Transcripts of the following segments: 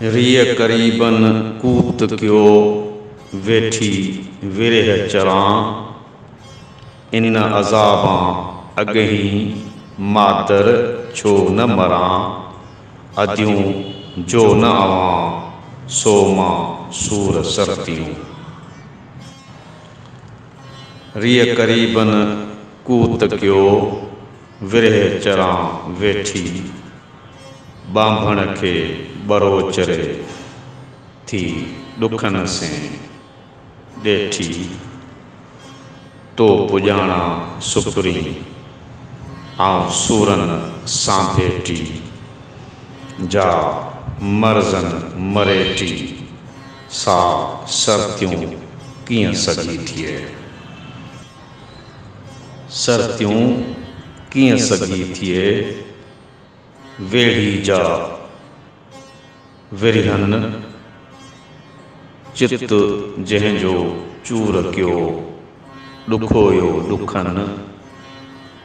ريء قريبن ڪوت ڪيو، ويٺي ورهه چران. ان عذابان اڳهين، مادر ڇو نه مران. اديون جو نه اوهان، سو مان سور سرتيون. ريء قريبن ڪوت ڪيو، ورهه چران ويٺي، ٻانڀڻ کي ٻروچ ري، ٿي ڏکن سين ڏيٺي، تو پڄاڻان سپرين، آئون سورن سان ڀيٽي، جا مرزن مريٽي. سا سرتيون ڪيئن سگهي ٿئي. سرتيون ڪيئن سگهي ٿئي. ويڙهي جا ورهين چت جنهن جو چور ڪيو. ڏکويو ڏکن.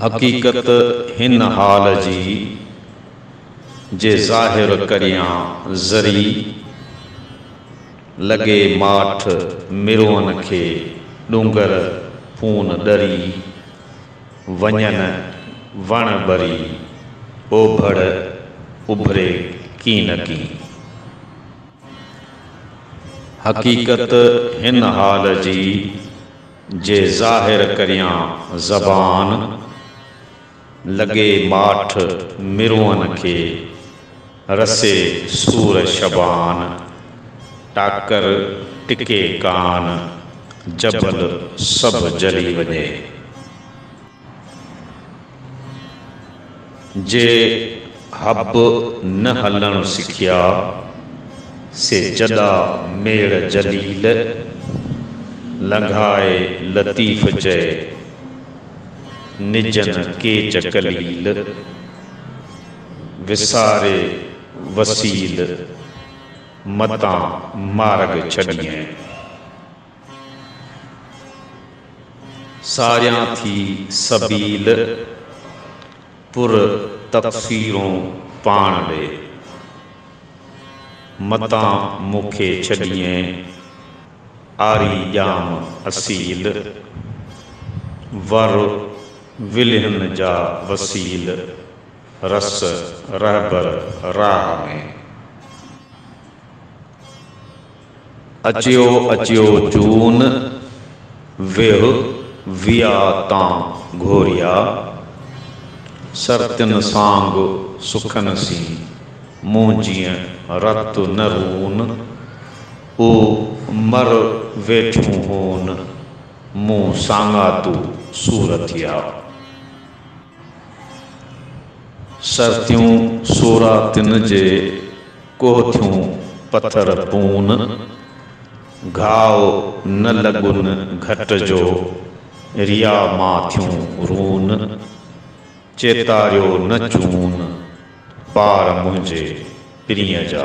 حقيقت هن حال جي، جي ظاهر ڪريان ذري، لڳي ماٺ مروئن کي ڏونگر پون ڏري، وڃن وڻ ٻري، اوڀڙ اڀري ڪين نه ڪين. حقيقت هن حال جي. جي ظاهر ڪريان زبان، لڳي ماٺ مرونء کي، رسي سور شبان، ٽاڪر ٽڪي ڪان، جبل سڀ جلي وڃي. جي حب نه هلڻ سکيا، سي جڏا ميڙ جليل، لنگهائي لطيف چئي، نجن ڪيچ ڪليل، وساري وسيل، متان مارڳ ڇڏيئين. ساريان ٿي سبيل پر تفسيرون پاڻ ڏي. متان مون کي ڇڏيين عاري ڄام اصيل، ور ولهن جا وسيل رس رهبر راهه ۾. اچيو اچيو جون ويهه ويا تان گهوريا، سرتين سانگ سکن سين مون جيئن رت نه رون، او مر ويٺون هون مون سانگاتو سور ٿيا. سرتيون سورا تن جي، ڪوهه ٿيون پٿر پون. گهاء نه لڳن گهٽ جو، ريا مان ٿيون رون. چيتاريو نه چون، پار منهنجي پرينء جا.